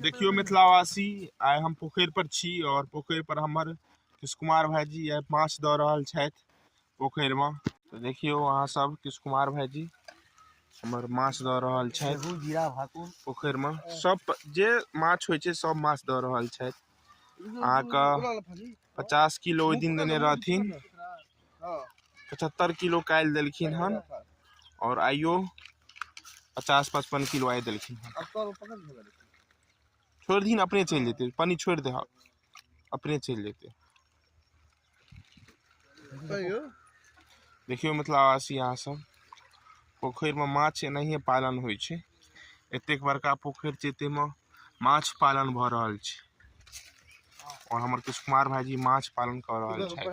देखियो मिथिलावासी आइ हम पोखरि पर छी और पोखरि पर हमर किश कुमार भाईजी आइ माछ दऽ रहल छथि पोखरि में तो देखियो अहाँ सब किश कुमार भाईजी हमर माछ दऽ रहल छथि जीरा भाकुर पोखरि में सब जे माछ होइ छै सब माछ दऽ रहल छथि अहाँके पचास किलो ओहि दिन देने रहथिन पचहत्तरि किलो काल्हि देलखिन हन आओर आइयो पचास पचपन किलो आइ देलखिन हन छोड़ि दिन अपने चलि जेतै पानि छोड़ि दे अपने चलि जेतै देखियौ मिथिलावासी अहाँ सब पोखरिमे माछ एनाहिये पालन होइ छै एतेक बड़का पोखरि छै ताहिमे माछ पालन भऽ रहल छै आओर हमर किछु कुमार भाईजी माछ पालन कऽ रहल छथि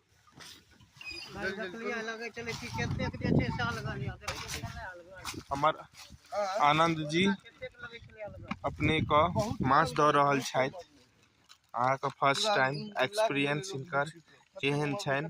हमर आनंद जी अपने को माछ दऽ रहल छथि अहाँके फर्स्ट टाइम एक्सपीरियंस हिनकर केहन छनि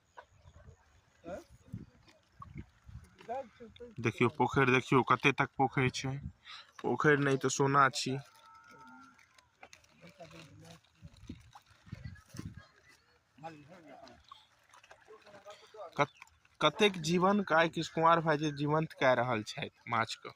देखियौ पोखरि देखियौ कते तक पोखरि छै पोखरि नहि तऽ सोना छी कतेक जीवन आइ किशकुमार भाई जी जीवंत कए रहल छथि माछके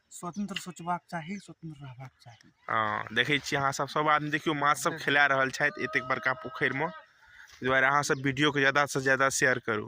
स्वतंत्र सोचबाक चाही स्वतंत्र रहबाक चाही हँ देखै छियै अहाँ सब सब आदमी देखियौ माछ सब खेला रहल छथि एतेक बड़का पोखरिमे ताहि दुआरे अहाँ सब वीडियोके ज्यादासँ ज्यादा शेयर करू